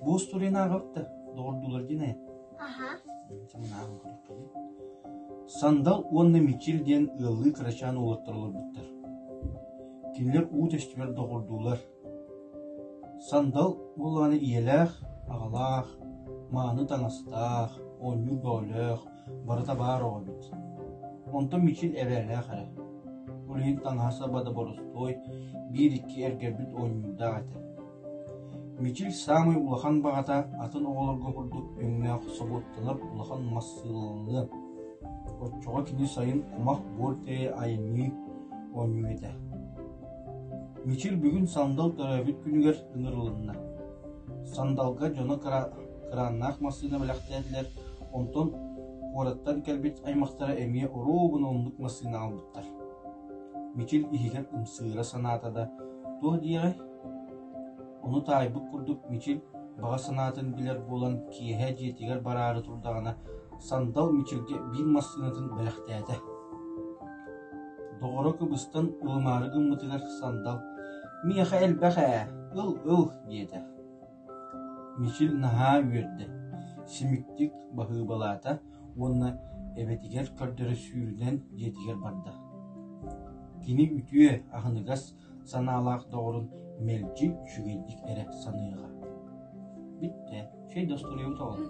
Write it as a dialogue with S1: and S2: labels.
S1: Бу устуринаҕыпта, доҕордулар динэ. Аха. Самынааҕын көрүккиин. Сандал уонна Мичил диэн ыаллыы кырачаан уолаттар олорбуттар. Кинилэр уу тэстибэр доҕордуулар, Сандал буолаары ийэлээх, аҕалаах, мааны таҥастаах, оонньуур бөҕөлөөх барыта баар оҕо эбит. Онтон Мичил эбээлээх эрэ. Ол иһин таҥаһа-саба да боростуой, биир-икки эргэрбит оонньуурдаах этэ. Мичил саамай улахан баҕата атын оҕолорго курдук өҥнөөх собуоттанар улахан мас сыаланыан. Оччоҕо кини сайын кумах буор диэри айанныы оонньуур этэ. Мичил бүгүн сандал төрөөбүт күнүгэр ыҥырылынна. Сандалга дьоно кырааннаах массыына бэлэхтээтилэр, онтон куораттан кэлбит аймахтара эмиэ оруобуна оннук массыына аҕалбыттар. Мичил иһигэр ымсыыра санаата да туох диэҕэй? Ону таайбыт курдук Мичил баҕа санаатын билэр буолан киэһэ дьиэтигэр бараары турдаҕына сандал Мичилгэ биир массыынатын бэлэхтээтэ. Доҕоро кыбыстан ылымаары гыммытыгар Сандал «Миэхэ элбэх ээ, ыл, ыл» диэтэ. Мичил наһаа үөрдэ, симиктик баһыыбалаата уонна эбэтигэр көрдөрө сүүрүнэн дьиэтигэр барда. Кини үтүө, аһыныгас санаалаах доҕорун мэлдьи үчүгэйдик эрэ саныаҕа. Бүттэ, чэй да остуруйубут оҕолор.